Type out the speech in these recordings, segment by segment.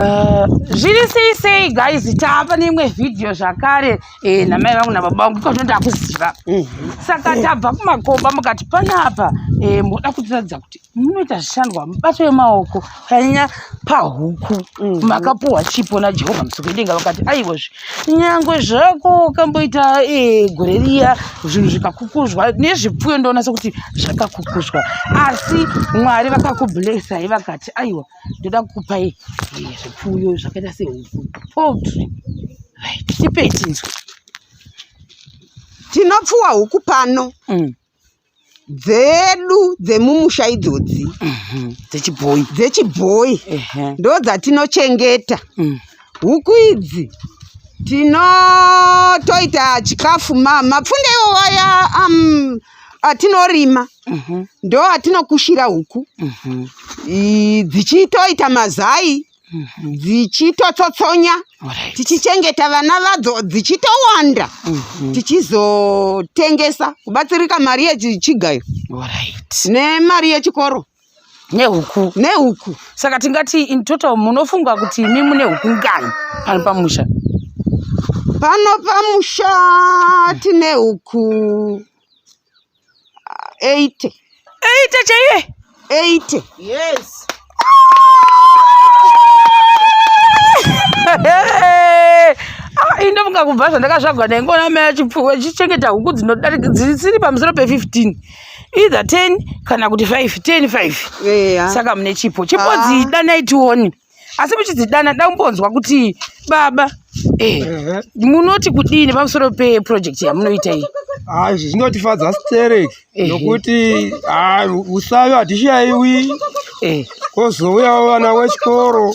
Eh, zviri sei sei guys tava neimwe vhidhiyo zvakare eh, namai vangu nababa vangu iko zvino ndakuziva mhm. saka tabva kumakomba mukati panapa eh, moda kutiratidza kuti munoita zvishandwa mubato yemaoko panyanya pahuku mhm. makapuhwa chipo najehovha musokuedenga vakati aiwozve nyangwe zvako ukamboita gore riya zvinhu zvikakukuzwa nezvipfuyo ndoona sekuti zvakakukuzwa asi mwari vakakublesai vakati aiwa ndoda kukupai eh, zvipfuyo zvakaita sehuku poultry right tipei tinzwe tinopfuwa huku pano mm. dzedu dzemumusha idzodzi mhm. dzechibhoyi dzechibhoyi ndo dzatinochengeta mm. huku idzi tinotoita chikafu mapfunde iwowo ya um, atinorima mhm. ndo atinokushira huku mhm. dzichitoita mazai mhm. dzichitotsotsonya tichichengeta vana vadzo dzichitowanda tichizotengesa kubatsirika mari yechigayo nemari yechikoro nehuku nehuku saka tingati in total munofunga kuti imi mune huku ngani pano pamusha pano pamusha tine huku eight eight chaiye eight yes ah, indofunga kubva zvandakazvagwa ndaingoona mai achipfuwa chichengeta huku dzinodarika dzisiri pamusoro pe-15 either 10 kana kuti 5 10 5 yeah. saka mune chipo chipo ah. dzidanai tione asi muchidzidana da kumbonzwa kuti baba eh, uh-huh. munoti kudini pamusoro peprojekti yamunoita iyi ah, izvi zvinotifadza sterek nokuti ah, usavi hatishaiwi eh. kozouyawo vana wechikoro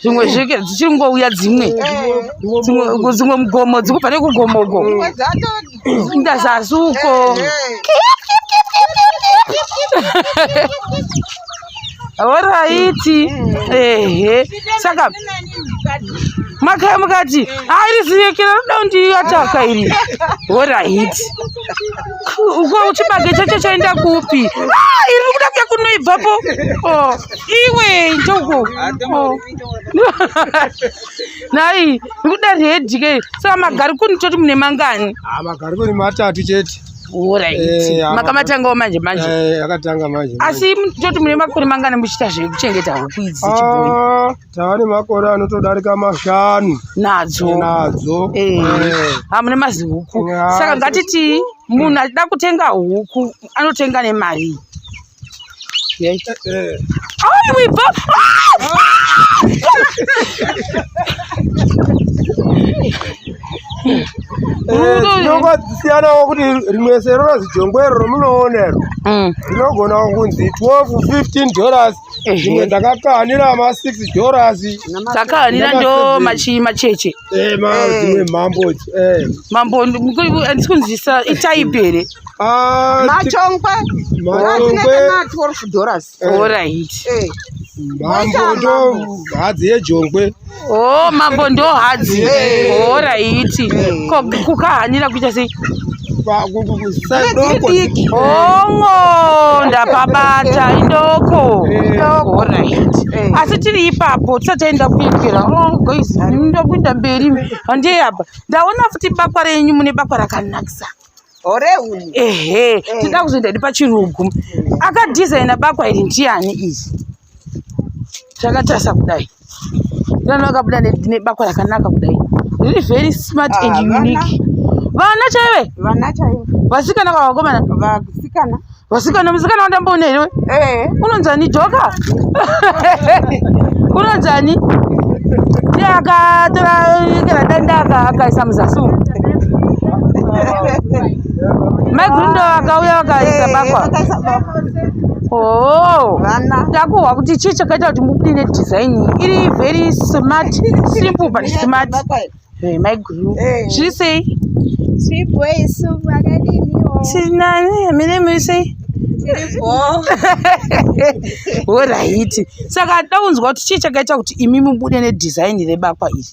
zvimwe zvike dzichiri ngouya dzimwe dzimwe mugomo dzikubva nekugomo uko ndazasi uko horaiti ehe saka makaya mukati airi ziyekera roda kundiataka iri horaiti Uko chibage chacho chaenda kupi? Ah, iri kuda kuya kunoibvapo. Oh, iwe njoko. Oh. Nai, kuda redi ke. Saka magari kuni toti mune mangani? Ah, magari kuni matatu chete. Eh, makamatangawo manje manje eh, akatanga manje asi toti mune makore mangani muchiita zvekuchengeta huku idzi ah, tava nemakore anotodarika mashanu nadzo nadzo eh. Eh. hamune mazihuku saka ngatitii munhu achida kutenga huku anotenga nemari eh, tinonga dzisiyanawo kuti rimwe sero rozijongwero romunoonero mm. rinogonawo kunzi 12 15 dollars zvimwe ndakakanira ma 6 dollars takakanira ndo machi macheche eh ma eh. dzimwe mambo eh mambo ndikunzisa itype here ah machongwe machongwe ma 12 dollars all right eh mambo ndo hadzi yejongwe Oh, mambo ndo hadzi. Oh, raiti. Ko kukahanira kuita sei? Ongo ndapabata indoko. Oh, raiti. Asi tiri ipapo tisati taenda kuipira. Oh, guys, ndokuenda mberi. Handei apa. Ndaona futi bakwa renyu mune bakwa rakanakisa. Ore uyu. Ehe, eh. tinoda kuzoenda ndi pachirungu. Akadesigner bakwa iri ndiani izvi? zvakatarisa kudai vana vakabuda nebakwa rakanaka kudai riri very smart ah, and unique vana chaive vana chaive vasikana vavakomana vasikana vasikana musikana wandamboona here eh. unonzani joka unonzani ndiye akatora kana danda akaisa muzasi umu mai gundo vakauya vakaisa bakwa Oh, takuhwa kuti chii chakaita kuti mubude nedesign iri very smart simple but smart eh, mai guru eh. zviri sei tinani mine muri sei horaiti saka taunzwa kuti chii chakaita kuti imi mubude nedesign rebakwa iri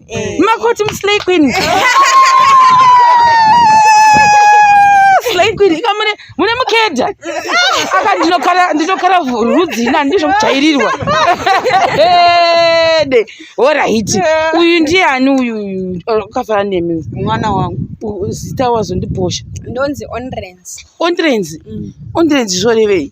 Eh. Makoti muslay queen. Slay queen ikamune mune mukeda. Aka ndinokara ndinokara rudzi ina ndizvo kujairirwa. Ede. Ora hiti. Uyu ndiye ani uyu uyu ukafara nemi mwana wangu. Zita wazondibosha. Ndonzi Onrens. Onrens. Mm. Onrens zvorevei?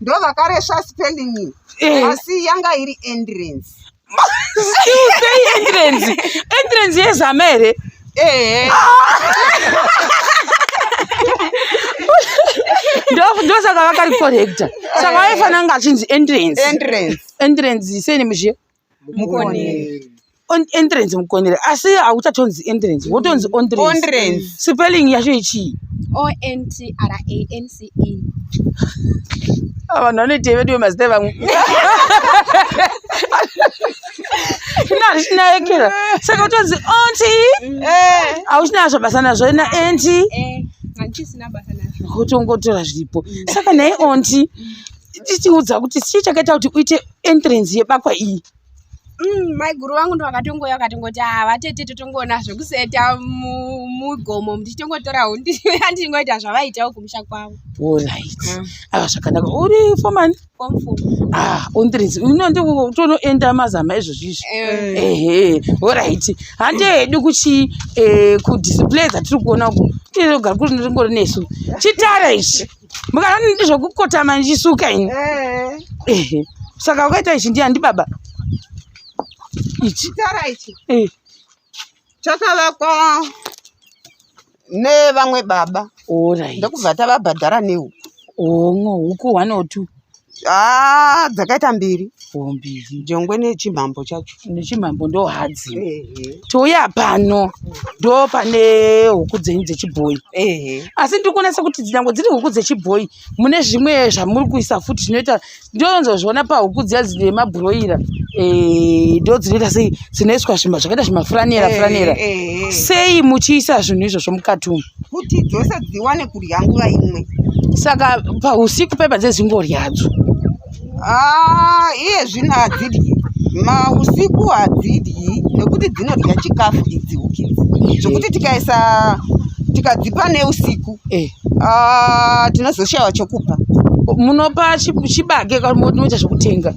ndovakaresva spelling iyi Eh. asi yanga iri endurance Still say entrance. Entrance yezama here? ehe Ndo- Ndosaka vakaricorrecta. Saka waifanira kunge achinzi entrance. endurance Entrance sei nemuZhia? mukoneri On- entrance mukonere asi hauchatonzi entrance wotonzi ontrance Ontrance. spelling yacho ichii O N T R A N C E. Ah, vanhu vanoitei veduwe mazita evamwe ina hachina ekera saka utonzi onti Eh. hauchina nazvo basa nazvo ina enti Eh, handisina basa nazvo. kutongotora zviripo saka naye onti tichiudza kuti chii chakaita kuti uite entrance yebakwa iyi mm, maiguru vangu ndovakatongouya vakatongoti havatete ah, totongoona zvekuseta mugomo ndichitongotora hundi andingoita zvavaitawo kumusha kwavo orit ah. aka ah, zvakanaka uri foman ontrance uno nditonoenda mazama izvozvi izvi eh. ehe orit hande hedu kuchi eh, kudisplay dzatiri kuona uku tinogara kuri nesu chitara ichi mukaona ndi zvokukotama ndichisuka ini eh. saka ukaita ichi ndiani ndi baba ichi tara ichi eh. chakavakwa nevamwe baba ndokubva tavabhadhara nehuku omwe huku one or two Ah, dzakaita mbiri mbiri jongwe nechimhambo chacho nechimhambo ndo hadzi touya pano ndo pane huku dzenyu dzechibhoyi asi ndiri kuonesa kuti nyangwe dziri huku dzechibhoyi mune zvimwe zvamuri kuisa futi zvinoita ndonzozviona pahuku dziya dzine mabhuroira eh, ndo dzinoita sei dzinoiswa zvima zvakaita zvimafuranera furanera sei muchiisa zvinhu izvozvo mukati umu kuti dzose dziwane kudya nguva imwe saka pausiku pepa dzezingorya hadzo ah, iye zvino hadzidyi mausiku hadzidyi nekuti dzinodya chikafu idzi ukidzi zvekuti tikaisa tikadzipa neusiku eh. ah, tinozoshayiwa chokupa munopa chibage moita zvekutenga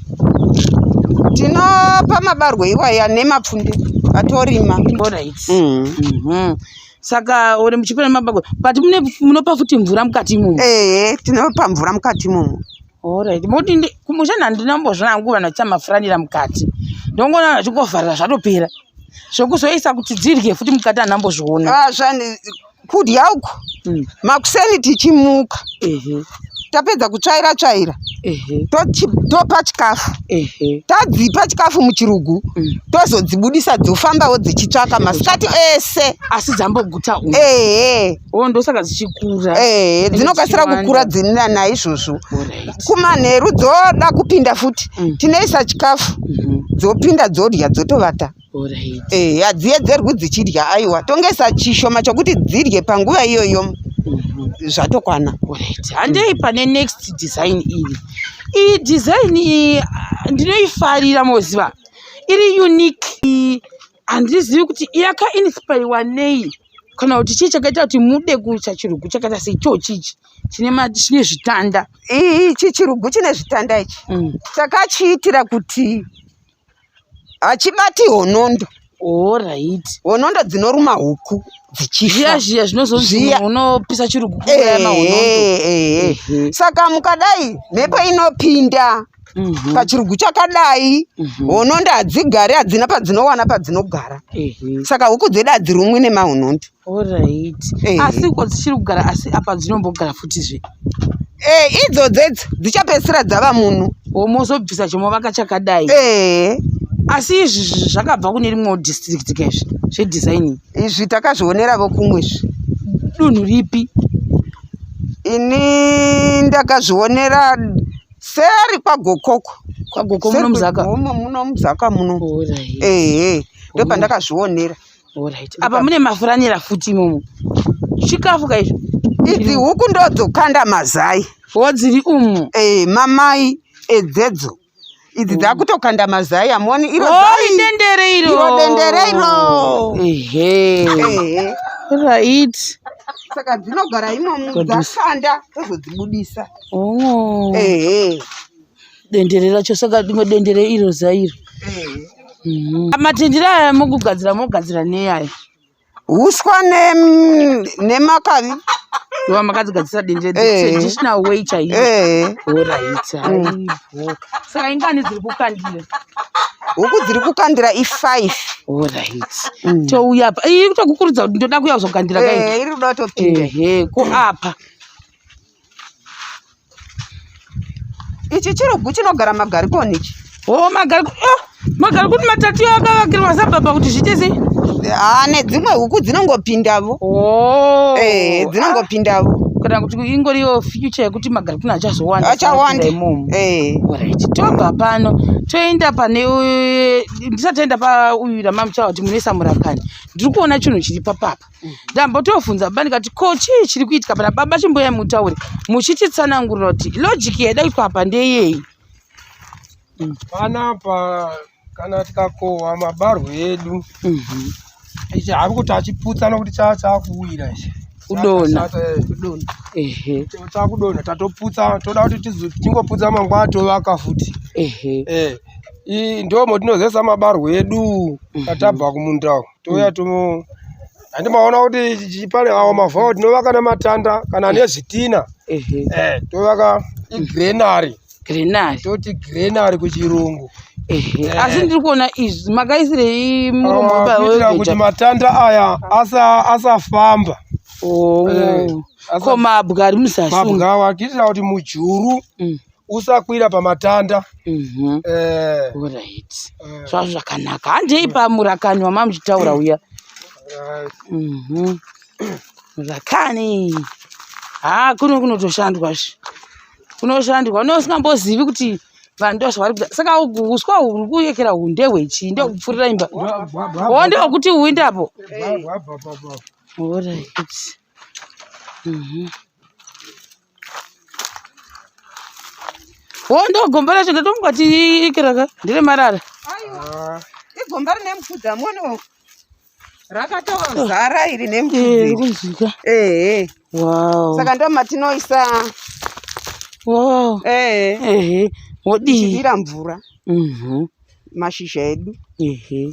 tinopa mabarwe iwaya nemapfunde atorima mm. mhm. saka uri muchipira mabako but mune munopa futi mvura mukati imomo ehe tinopa mvura mukati imomo orit moti kumusha nhandinombozvona hangu vanhu vachamafuranira mukati ndongoona vanhu vachingovharira zvatopera zvekuzoisa kuti dzirye futi mukati hanhu ambozviona ah, kudya uku hmm. makuseni tichimuka tapedza kutsvaira tsvaira topa chikafu tadzipa chikafu muchirugu mm. tozodzibudisa dzofambawo dzichitsvaka masikati ese asi dzamboguta ehe oh, ndosaka dzichikura ehe dzinokasira kukura dzinina naizvozvo kumanheru dzoda kupinda futi mm. tinoisa chikafu mm-hmm. dzopinda dzodya dzotovata ehe hadziedzerwi dzichidya aiwa tongesa chishoma chokuti dzidye panguva iyoyo mhm. zvatokwana handei pane next design iyi iyi design iyi ndinoifarira moziva iri unique handizivi kuti yakainspiriwa nei kana kuti chii chakaita kuti mude kuita chirugu chakaita seichoo chichi chine chine zvitanda ichi chirugu chine zvitanda ichi mm. takachiitira kuti hachibati honondo Alright. Honondo dzinoruma huku dzichifa. Zviya zviya zvinozozviya unopisa chirugu kuya eh, mahonondo. Eh, eh, Saka mukadai mhepo inopinda mhm. pachirugu chakadai mhm. honondo hadzigari hadzina padzinowana padzinogara saka huku dzedu hadzirumwi nemahonondo Alright. Eh. Asi uko dzichiri kugara asi apa dzinombogara futi zve. Eh, idzo dzedzi dzichapedzisira dzava munhu. Womozobvisa chomo vakachakadai. Eh. Asi izvi zvakabva kune rimwe district kezvi zve designing. Izvi takazvionera vokumwe izvi. Dunhu ripi? Ini ndakazvionera seri kwagokoko. Kwagokoko muno muzaka. Muno muzaka muno. Alright. Eh. Ndopandakazvionera. Alright. Apa mune mafuranira futi imomo. Chikafu ka izvo. Idzi huku ndodzokanda mazai. Wodziri umu. Eh, mamai edzedzo. Idzi mm. dzakutokanda mazai amoni iro oh, zai. Oh, dendere iro. Iro dendere iro. Ehe. Ehe. Right. Saka dzinogara imomo dzakanda tozodzibudisa. Oh. Ehe. dendere racho saka rimwe dendere iro zairo mhm. matendere aya mokugadzira mogadzira neaya uswa nemakavi iva makadzigadzisa dendere traditional way chaiyo oraita saka ingani dziri kukandira huku dziri kukandira i5 orit mm. touya apa iri kutokukurudza kuti ndoda kuya kuzokandira kairi iri kuda kutopinda ko apa ichi chirugu chinogara magarikoni ichi o oh, magarikoni oh, magarikoni matatu yo akavakirwa sababa kuti zviite sei haa ah, nedzimwe huku dzinongopindavo oh. eh, dzinongopindavo ah, kana kuti ingoriyo future yekuti magarikoni achazowanda achawanda eh. right tobva pano toenda pane ndisati enda pauyu ramamuchawa kuti munoisa murakani ndiri kuona chinhu chiri papapa ndambotofunza baba ndikati ko chii chiri kuitika pana baba chimboyai mutaure muchititsanangurira kuti logic yaida kuitwa apa ndeyeyi panapa kana tikakohwa mabarwe edu mhm. ichi havi kuti achiputsana kuti chaa chaakuwira ichi kudona chakudona tatoputsa toda kuti tingoputsa mangwana tovaka futi eh. ndo motinozesa mabarwe edu mhm. tatabva kumunda uku touya tomo handimaona kuti pane awo mavhawo tinovaka nematanda kana nezvitina eh, tovaka igrenary grenari toti grenari kuchirungu eh. asi ndiri kuona izvi makaisirei muromokuitira ah, kuti matanda aya asafamba oh. eh, ko mabwa ari muzasi mabwa awa kuitira kuti mujuru mm. usakwira pamatanda mhm. eh. orit eh. zvazvo zvakanaka handei pamurakani wamamuchitaura uya mhm. murakani ha kuno kunotoshandwa zvi kunoshandwa une usingambozivi kuti vanhu ndozvavari kuda saka uswa huri kuyekera uhu ndehwechii ndokupfurira imba o ndeokuti uindapo orit mhm. Wondo gomba racho ndatomwa tiikiraka ndire marara. Aiwa. Ah. Igomba rine mupfudza mwono. Rakatozara iri nemupfudza. Eh, eh. eh. Wow. Saka ndo matinoisa. Wow. Eh. Eh. Wodii. Chidira mvura. Mhm. Mm mashizha edu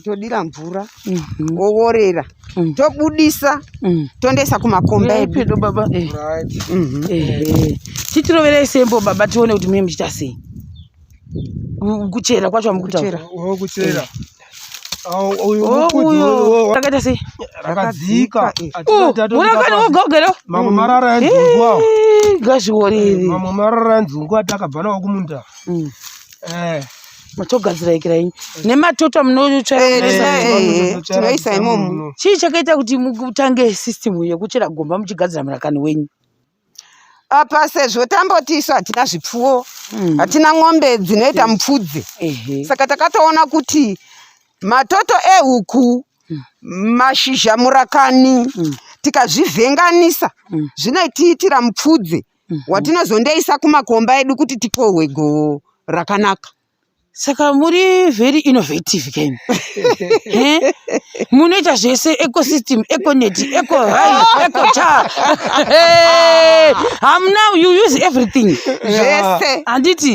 todira mvura mhm. oworera mm. tobudisa mm. tondoisa kumakomba edu baba eh. mhm. eh. titiroverei sembo baba tione kuti mune muchita sei kuchera kwacho amukuchera kuchera takaita sei rakadzika murakani wogogero mamwe marara yanzungu awo gazviworiri mamwe marara yanzungu atakabva nawo kumunda mm. eh. matogadzira ikira inyi nematoto munotsvaitinoisa imomo chii chakaita kuti mutange system yekuchera gomba muchigadzira murakani wenyu apa sezvo tamboti isu hatina zvipfuwo hmm. hatina n'ombe dzinoita hmm. mupfudze saka takatoona kuti matoto ehuku hmm. mashizha murakani tikazvivhenganisa zvinoitiitira mupfudze mm. mhm. watinozondeisa kumakomba edu kuti tikohwe goho rakanaka saka muri very innovative ken munoita zvese ecosystem econet ecohai ecochar ham now you use everything zvese handiti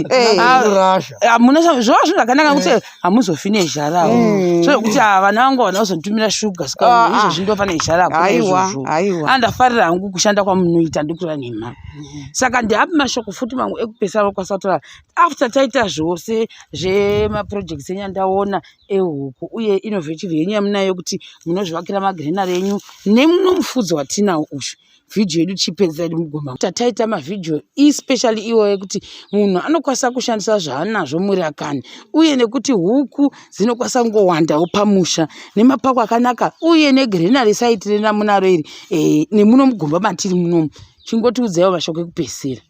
hamuna zvova zvinhu zvakanaka kuti hamuzofi nezharawo mm. so yekuti haa ah, vana vangu havana kuzonditumira shuga ska ah, ah. izvozvi ndofa nezhara kuizvozvo andafarira hangu kushanda kwamunoita ndikutora nhema mm. saka ndiapi mashoko futi mangu ekupesana kwasatora after taita zvose zvemaprojects enyu andaona ehuku uye innovative yenyu yamunayo kuti munozvivakira magrenary enyu nemuno mufudzi watinawo ushu vhidhiyo yedu tichipedza yedu mugomba tataita mavhidhiyo especially iwo ekuti munhu anokwanisa kushandisa zvaanazvo murakani uye nekuti huku dzinokwanisa kungowandawo pamusha nemapako akanaka uye negrenary saiti rena munaro iri e, nemuno mugomba matiri munomu chingotiudzaiwo mashoko ekupedzisira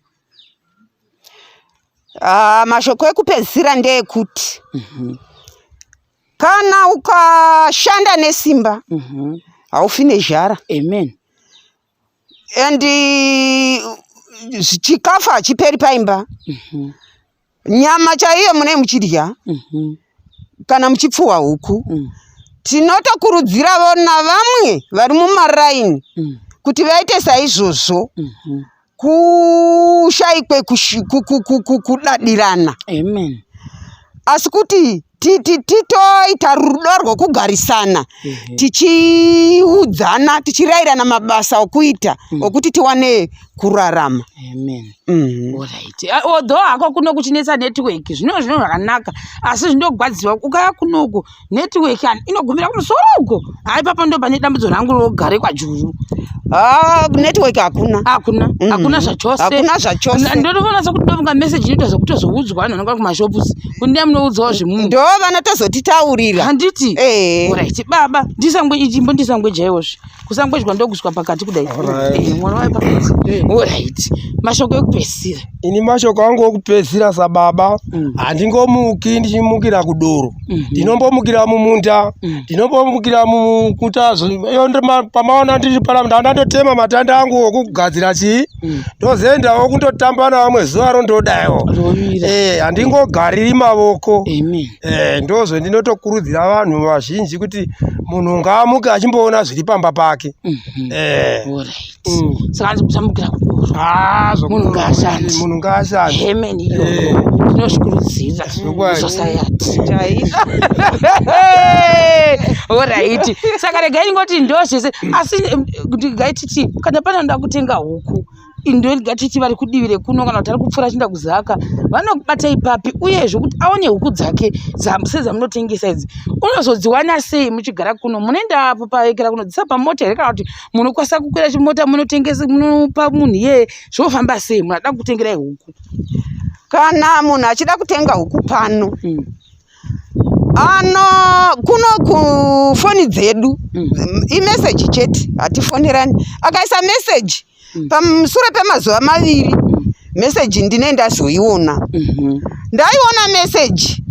uh, mashoko ekupedzisira ndeekuti mm -hmm. kana ukashanda nesimba mhm. haufi mm -hmm. nezhara amen and uh, chikafu hachiperi paimba mm -hmm. nyama chaiyo mune muchidya mm -hmm. kana muchipfuwa huku mm. tinotokurudziravo navamwe vari mumaraini mm. kuti vaite saizvozvo mm -hmm. kushaikwe kudadirana amen asi kuti titoita rudo rwokugarisana tichiudzana tichirayirana mabasa okuita mm. okuti tiwane kurarama mm-hmm. although hako kuno kuchinetsa network zvino zvino zvakanaka asi zvinogwadziwa ukaya kunoko network yani inogumira kumusoro uko hai papa ndo pane dambudzo rangu rogare kwajuru ah, network hakuna hakuna mm. hakuna zvachose hakuna zvachose ndotoona sokuti ndovunga message inoita zvokutozoudzwa vanhu vanonga kumashops kundiya munoudzawo zvemunhu ndo vanotozotitaurira handiti eh. orit baba ndisango ichimbo ndisango jaiwozve kusangwejwa ndoguswa pakati kudai eh, mwana wayo pakati eh. orit mashoko ekupedzisira ini mashoko angu okupedzisira sababa mm. handingomuki mm. ndichimukira kudoro mm-hmm. ndinombomukira mm -hmm. mumunda mm. ndinombomukira mm. mukutazo pamaona ndiri paramda ndatotema matanda angu okugadzira chii mm. ndozoendawo kundotamba navamwe zuva rondodaiwo eh, handingogariri mavoko Amen. Eh, ndozvo ndinotokurudzira vanhu vazhinji kuti munhu ngaamuke achimboona zviri pamba pake mhm. eh. mm. saka ndikusamukira kudomunhu ngaashandimunhu ngaashandi hemen iyo eh. tinozvikurudzira society oraiti saka regai ingoti ndozvese asi regai titi kana panoda kutenga huku indoelga titi vari kudivi rekuno kana kuti ari kupfuura achienda kuzaka vanobata ipapi uyezve kuti aone huku dzake sedzamunotengesa idzi unozodziwana sei muchigara kuno munoenda apo paekera kunodzisa pamota here kana kuti munokwanisa kukwira chimota munotengesa munopa munhu iyeye zvinofamba sei munhu ada kutengerai huku kana munhu achida kutenga huku pano hmm. ano kuno kufoni dzedu hmm. imeseji chete hatifonerani akaisa meseji mm. pamusure pemazuva maviri mm. meseji ndine ndazoiona mm-hmm. ndaiona meseji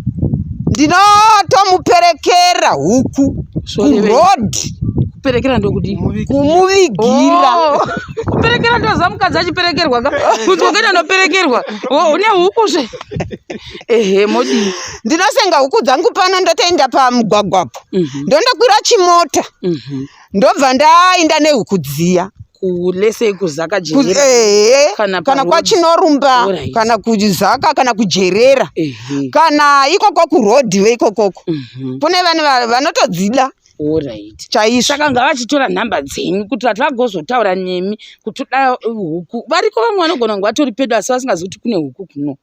ndinotomuperekera huku kuroad kuperekera ndokudi kumuvigira oh. kuperekera ndoza mukadzi achiperekerwa ka kuti wakaita ndoperekerwa oh, une huku zve ehe modi ndinosenga huku dzangu pano ndotoenda pamugwagwapo mhm. ndondokwira chimota mhm. ndobva ndainda nehuku dziya kulese kuzaka jerera eh, kana, kana kwachinorumba right. kana kuzaka kana kujerera uh -huh. kana ikoko kurodhi veikokoko uh mhm. -huh. kune vanhu vanotodzida orit chaizvo saka ngavachitora nhamba dzenyu kuti vati vagozotaura nemi kuti da huku variko vamwe vanogona kunge vatori pedo asi vasingazi kuti kune huku kuno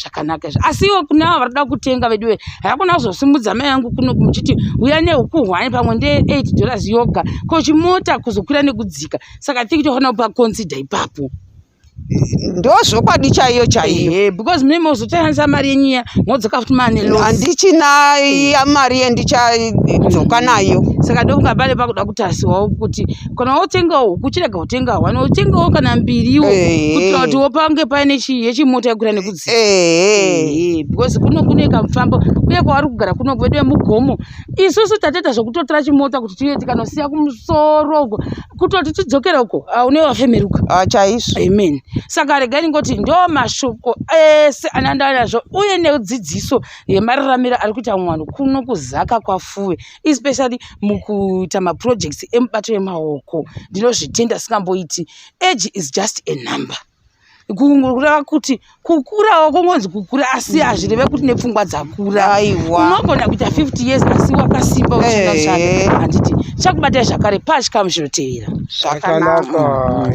zvakanaka izvo asi iwe kune avo varikuda kutenga veduwe hakuna kuzosimudza mai yangu kuno muchiti uya nehuku hwani pamwe nde8 dollars yoga ko chimota kuzokwira nekudzika saka thinki tofanira kupa consider ipapo ndozvokwadi chaiyo chaiyo because mimi uzotayanisa mari yenyu iya modzoka futi mane handichina ya mari yendichadzoka nayo saka ndokunga pale pakuda kutasiwawo kuti kana wotengawo huku uchirega kutenga hwani wotengawo kana mbiriwo kuitira kuti wopange paine yechimota yekura nekudzika because kuno kune kamufambo uye kwavari kugara kuno kwedu vemugomo isusu tatoita zvekutotora chimota kuti tiye tikanosiya kumusoro uko kutoti tidzokere uko ah, une wafemeruka ah, chaizvo amen saka regai ndingoti ndo mashoko ese anandanazvo uye nedzidziso yemararamiro ari kuita mwanhu kuno kuzaka kwafuwe especially mukuita maprojects emubato yemaoko ndinozvitenda singamboiti age is just a number kureva kuti kukurawo kungonzi kukura asi hazvireve kuti nepfungwa dzakura unogona kuita 50 years asi wakasimba uchina chake handiti chakubatai zvakare pachikamu zvinotevera zvakanaka